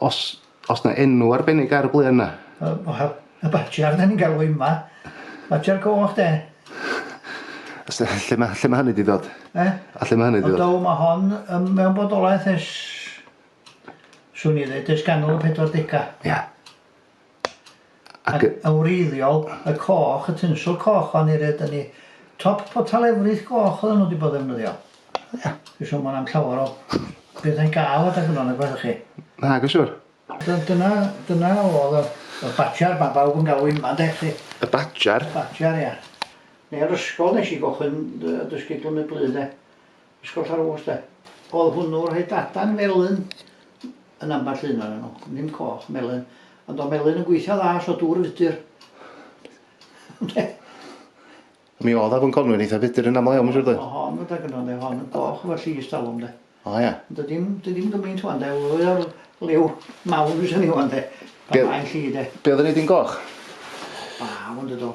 Os, os na enw arbennig ar y bluen na? Wel, y badger da ni'n galw hi yma. Badger coch de. Os na, lle mae, lle mae hynny di ddod? Eh? A lle mae hynny di ddod? Ond mae hon ym, mewn bodolaeth es... Swn i ddweud, es ganol y 40au. Ia. Ac yn wreiddiol, y coch, y tinsel coch o'n i red yn i top potel efrith goch oedden nhw wedi bod ddefnyddio. Ia. Dwi'n siŵr mae yna llawer o bethau'n gael adag yno nag oes chi? Nag yn siŵr. Dyna, dyna oedd y, y badger mae bawb yn galw yma de chi? Y badger? Y badger ia. Neu'r ysgol nes i gochyn dy, dy sgidl yn y blu de. Ysgol Llanrwst de. O'dd hwnnw'n rhoi dadan felyn yn ambell un o'nyn nhw, ddim coch, melyn. Ond o'dd melyn yn gweithio dda so dŵr fudur. Ynde? Mi o'dd afon Conwy'n eitha fudur yn aml iawn mae'n siŵr doedd? O hon gyda gynno ynde, hon yn goch efo llys talwm de. O ia? Dy ddim, dy ddim gymaint wan de, fwy o'r liw mawr fyswn i wan de. Pan Be- mae'n lli de. Be' o'dd yn neud hi'n goch? Baw ynde do.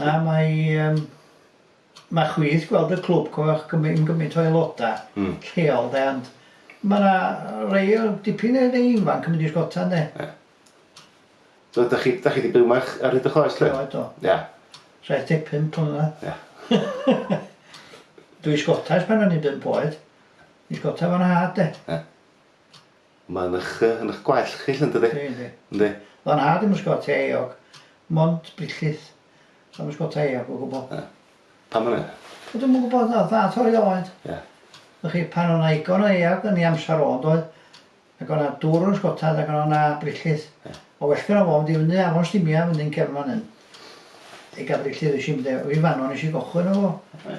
Na, mae, um, mae chwith gweld y clwb coch gymryd gymryd o aelodau mm. lleol de, ond mae yna rei o dipyn o rei ifanc yn mynd i sgota ne. Yeah. So, da chi, da chi wedi byw yma ar hyd y chloes, lle? Do, do. Ia. Yeah. 75 mlynedd. Ia. Yeah. Dwi sgotais pan o'n i'n bimp oed. Dwi sgotais fan nhad, de. Ia. Yeah. Mae'n ych yy yn ych gwallt chi 'lly yndydi? Yndi yndi. Yndi. O'dd 'yn nhad i'm yn sgota eog, mond brichllys. O'dd o'm yn sgota eog o gwbwl. Ia. Pam ynny? Wel dwi'm yn gwbod o'dd o'n dda torri oed. Ia. Wch chi pan o' 'na igon o eog yn ei amsar o yndoedd? Ag o' 'na dwr yn sgotad ag o' 'na brichllys. Ia. O well gynno fo fynd i fyny afon Stumia fyny yn cefn fan 'yn. I ga'l brichllys esh i mynd â o i fan 'no nesh i gochwyn efo fo. Ia.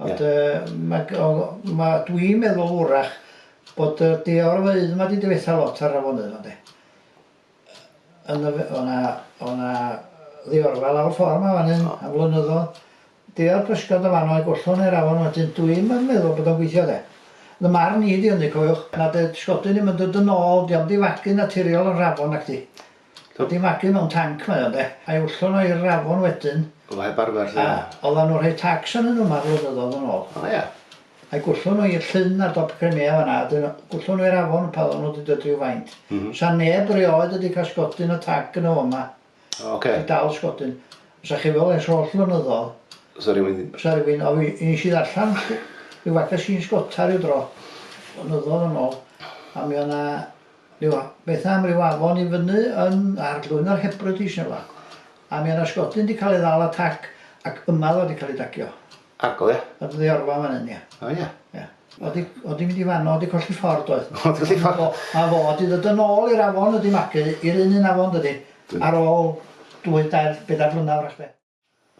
Ond yy ma' g- o- ma' dwi'n meddwl wrach bod y day-o'r-ddeud 'ma 'di dyfetha lot ar afonydd 'ma de? Yn y f- o' 'na o' 'na ddiorfa lawr ffor 'ma fan 'yn am flynyddoedd day-o'r pysgod yn fan 'no i gollwng i'r afon wedyn dwi'm yn meddwl bod o'n gweithio de? Fy marn i 'di hynny cofiwch na 'di'r 'sgodyn ddim yn dod yn ôl 'di o'm 'di fagu naturiol yr afon nacdi? Dod i magu mewn tanc mae o de? A'i ollwng o i'r afon wedyn. O heb arfer 'lly. A oddan nhw'n rhoi tacs arnyn nhw 'ma flynyddodd yn ôl. O ia? A'i gwllwng nhw i'r llyn ar dop Crimea fan 'na a 'dyn gwllwng nhw i'r afon pan oddan nhw 'di dod ryw faint. Sa neb rioed wedi cael sgodyn o tac yn y fo 'ma. O ocê. I dal sgodyn. Sa chi fel ers holl flynyddodd. Sa rywun... Sa rywun o fi nes i ddarllan ryw fagazine sgota ryw dro. Blynyddodd yn ôl a mi o 'na Ryw a- beth am ryw afon i fyny yn ar Glwyno'r Hebrides neu rwla. A mi o' 'na sgodyn 'di ca'l ei ddal a tac ac yma o'dd o 'di ca'l ei dagio. Ag o ia? O'dd yn Iorfa fan 'yn ia. O ia? Ia. O'dd 'di o'dd 'di mynd i fano o'dd 'di colli ffordd doedd? O'dd colli ffordd. A fo 'di ddod yn ôl i'r afon wedi magu i'r un un afon dydi? Ar ôl dwy dair bedair blynadd 'w'rach 'de?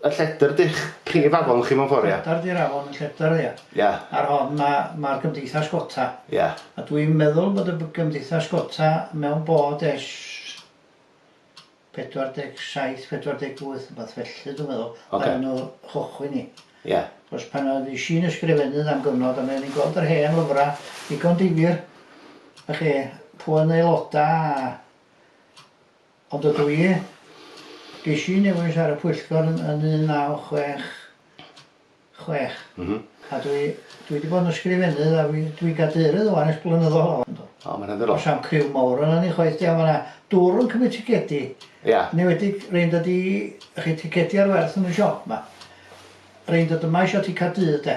Y lledr di'ch prif afon chi mewn ffordd ia? Lledr di'r afon, y lledr ia. Ia. Ar hon ma' ma'r gymdeithas gota. Ia. A dwi'n meddwl bod y b- gymdeithas gota mewn bod ers 47, 48 wbath felly dwi'n meddwl... Ocê. ...pan o'n n'w chychwyn 'i. Ia. Cos pan oedd i Si'n ysgrifennydd am gyfnod a mi o'n i'n gweld yr hen lyfra ddigon difyr y'chi p'un aeloda a Ond ydw i? Ges i'n newis ar y pwyllgor yn, yn 1966 mm -hmm. a dwi, dwi wedi bod yn ysgrifennydd a dwi'n gadeirydd o'n eich blynyddol o. O, mae'n edrych. Os am criw mawr yna ni chwaith diaw yna dŵr yn cymryd ticedi. Ia. Yn enwedig rhain dod i chi ticedi ar werth yn y siop yma. Rhain dod yma eisiau ti cael dydd de.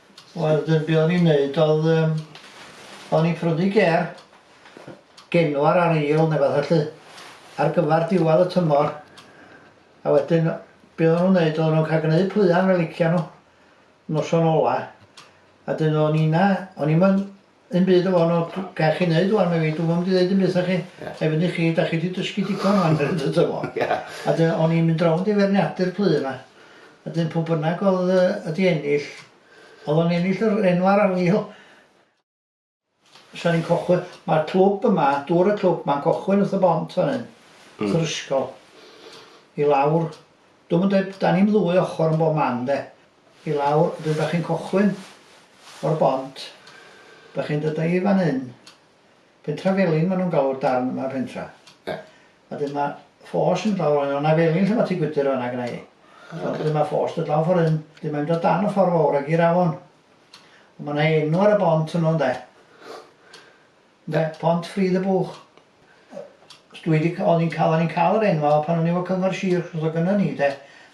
Wel dyn be o'n i'n neud oedd yym o'n i'n prynu gêr genwair ar eil neu fatha 'lly ar gyfar diwadd y tymor a wedyn be o'n n'w'n neud oedd o'n ca'l gneud pluen fel licia n'w noson ola a 'dyn o'n i 'na o'n i'm yn Dim byd o fo na dw- ga' chi neud ŵan medda fi dw'm yn mynd i ddeud dim byd 'tha chi lle fyny chi 'da chi 'di dysgu digon ŵan medda fo dw'm yn gwbo. A 'dyn o'n i'n mynd rownd i ferniadu'r plu 'ma a 'dyn pw bynnag o'dd yy yy 'di ennill o'dd o'n ennill yr enw ar afil sa'n ni'n cychwyn... Ma'r clwb yma dŵr y clwb 'ma'n cychwyn wrth y bont fan 'yn... Hmm... wrth yr ysgol i lawr dw'm yn deud... 'da ni'm ddwy ochor yn bob man de i lawr wedyn dach chi'n cychwyn o'r bont dach chi'n dod i fan hyn pentra felin maen nhw'n galw'r darn yma pentra yeah. a wedyn mae ffos yn lawr fan yna felin lle mae ti gwydr fanna gyda i oh, okay. wedyn mae ffos dod lawr ffordd hyn wedyn mae'n dod dan y ffordd fawr ag i'r afon mae yna enw ar y bont hwnnw ynde Ynde? Pont Ffridd y Bwch. Dwi 'di c- o'n i'n ca'l o'n i'n ca'l yr enwa' pan o'n i efo Cyngor Sir achos o'dd o gynno ni de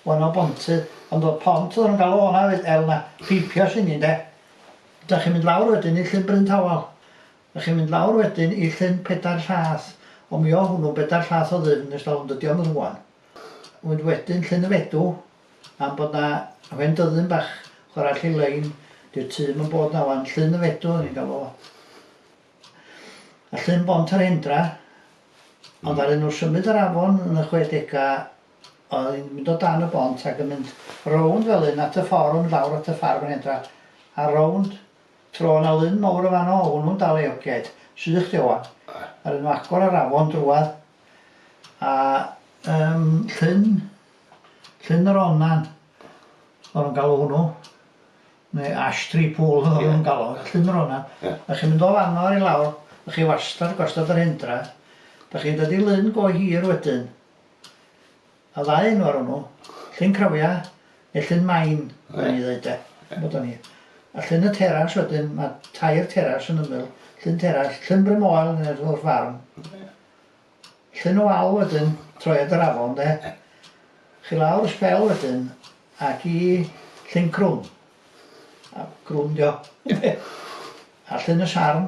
o' 'na bontydd ond o'dd pont o'ddan n'w'n galw honna oedd el 'na peipios inni ynde? 'Dach chi'n mynd lawr wedyn i Llyn Bryn Tawel 'dach chi'n mynd lawr wedyn i Llyn Pedair Llath ond mi o' hwnnw'n bedair llath o ddyfn nes dalwm dydi o'm yn rŵan ond wedyn Llyn y Fedw am bod 'na hen dyddyn bach chwara' allu lein 'di'r tŷ 'im yn bod 'na ŵan Llyn y Fedw o'n i'n galw fo a Llyn Bont yr Hendra hmm. ond ddaru nhw symud yr afon yn y chwedega oedd hi'n mynd o dan y bont ac yn mynd rownd fel un at y ffordd yn mynd lawr at y ffarm yr Hendra a rownd tro na lun mawr o fanno o hwnnw'n dal ei oged sych di owan a rydyn nhw agor yr afon drwad a um, llyn Llyn yr Onad o'n nhw'n galw hwnnw neu Ash Tree Pool o'n nhw'n galw fo, Llyn yr Onad. Dach chi'n mynd o fanno i lawr, dach chi wastad gostod yr hendra, dach chi'n dod i lyn go hir wedyn, a ddau enw ar hwnnw, Llyn Crafia neu Llyn Main, o'n i'n ddeud de, bod o'n i. A Llyn y Teras wedyn, mae tair teras yn ymyl, Llyn Teras, Llyn Bryn Moel neu Llyn Farm. Llyn y wal wedyn, troi at yr afon de. Chi lawr y sbel wedyn ac i Llyn Crwn. A Crwn dio. a Llyn y Sarn,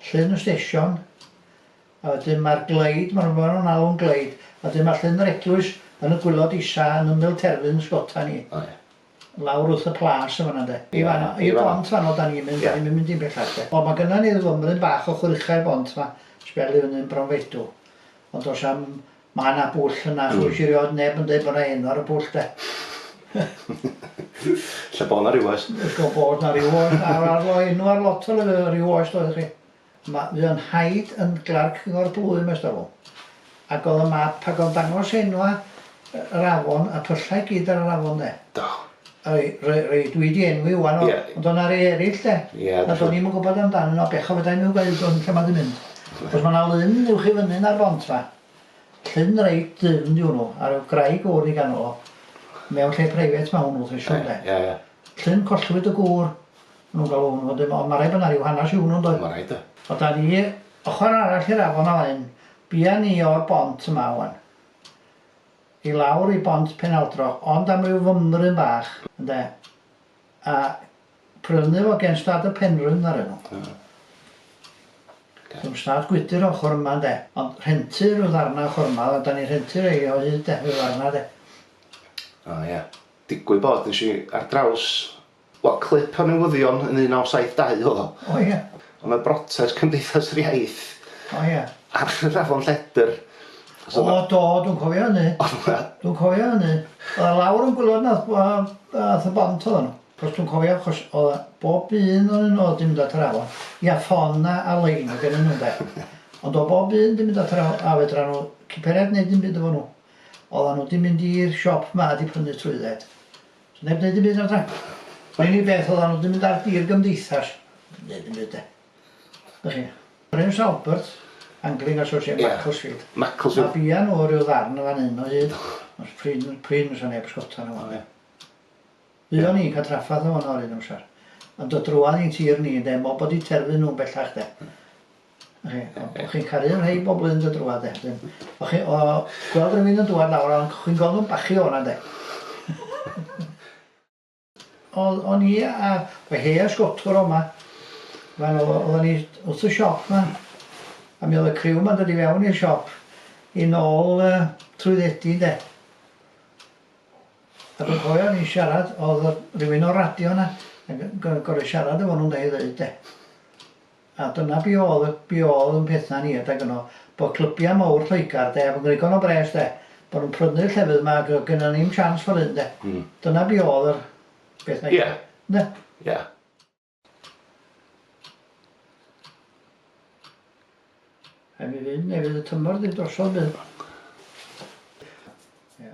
Llyn y Stesion, a wedyn mae'r gleid, mae'n rhywbeth nhw'n alw'n gleid, a wedyn mae Llyn yr Eglwys yn y gwylod isa yn ymyl terfyn sgota ni. O, ie. lawr wrth y plas yn fan'na 'de. I fan 'no. I'r bont fan 'no 'dan ni'n mynd 'dan ni'm yn mynd dim bellach 'de. O ma' gynna ni fymryn bach o chwrych i'r bont 'ma sbel i fyny'n Bronfeidw ond do's a'm ma' 'na bwll yna ch'wis erioed neb yn deud bo' 'na enw ar y bwll 'de. Lle bo' 'na ryw oes. Lle bo' 'na ryw oes enw ar lot o ryw oes doedd chi? Ma- fu o'n nhaid yn glerc Cyngor Blwym ers talwm ac o'dd y map ag o'n dangos enwa' yy yr afon a pyllau i gyd ar yr afon 'de. Do. Rei- rei- rei dwi 'di enwi ŵan o- Ie. ond o' 'na rei erill 'de. Ia dw- ...a do'n i'm yn gwbod amdanyn n'w a bechod fedrai i'm ddeud ŵan lle ma' 'di mynd. Achos ma' 'na lun uwch i fyny 'na'r bont 'ma. Llyn reit ddyfn 'di hwnnw a ryw graig fowr i ganol o. Mewn lle preifat ma' hwnnw dwi siŵr 'de. Ia ia. Llyn collwyd y gŵr n'w'n galw hwnnw wedyn ond ma' raid bo 'na ryw hanas i hwnnw yndoedd? Ma' raid de. A 'da ni ochor arall i'r afon o hyn bia ni o'r bont yma ŵan i lawr i bont Penaldroch ond am ryw fymryn bach ynde a prynu fo gen stad y Penrhyn ddaru n'w. Hmm. Oce. Sdim stad gwydyr ochor yma ynde ond rhentu ryw ddarna ochor yma a 'da ni'n rhentu rei o hyd de ryw ddarna de. O ia. Digwydd bod nesh i ar draws Wel, clip o newyddion yn 1972 oedd o. O ia? Oedd 'na brotest Cymdeithas yr Iaith... O ia? ...ar yr afon Lledr. O do, dwi'n cofio hynny. Dwi'n cofio hynny. Oedd 'na lawr yn gwilod na wbath y bont oeddan nhw. Achos dwi'n cofio achos oedd bob un ohonyn nhw oedd 'di mynd at yr afon. Ia, ffon a a lein oedd gennyn nhw ynde? Ond oedd bob un 'di mynd at yr afon a fedran nhw ciperiad neud dim byd efo nhw. Oeddan nhw 'di mynd i'r siop 'ma a 'di prynu trwydded. Neb neud dim byd na 'da? Yr unig beth odda n'w 'di mynd ar dir gymdeithas yn neud dim byd 'de? Dach chi? Prince Albert, Angling Association Ia. Macclesfield. Macclesfield. A bia n'w ryw ddarn yn fan 'yn o hyd. Os prin prin fysa neb sgota n'w ynde? Fuon ni'n ca'l traffarth o fono yr un amsar. Ond do drwadd i'n tir ni ynde mo bod 'di terfyn n'w bellach 'de? O'ch chi'n caru rhei bobl yn dod drwad de. O'ch chi o gweld rhywun yn dwad lawr o'n chi'n gweld nhw'n bachu o'na de. Oedd o'n i a fy hei a sgotwr o'ma. Fan oedd o'n i wrth y siop ma. A mi oedd y criw ma'n dod i fewn i'r siop i nôl uh, trwyddedi de. A dwi'n cofio ni siarad, oedd rhywun o'r radio yna, gorau siarad efo nhw'n da i ddeud de. A dyna be oedd, be oedd yn pethau ni adeg yno, bod clybiau mawr Lloegr de, fy ngwrigon o bres de, bod nhw'n prynu'r llefydd yma ac oedd gynnon ni'm siawns fel hyn de. Dyna be oedd yr peth neithiwr. Ie. Ynde? Ie. Rhaid mi fynd neu fydd y tymor 'di drosodd bydd? Ia.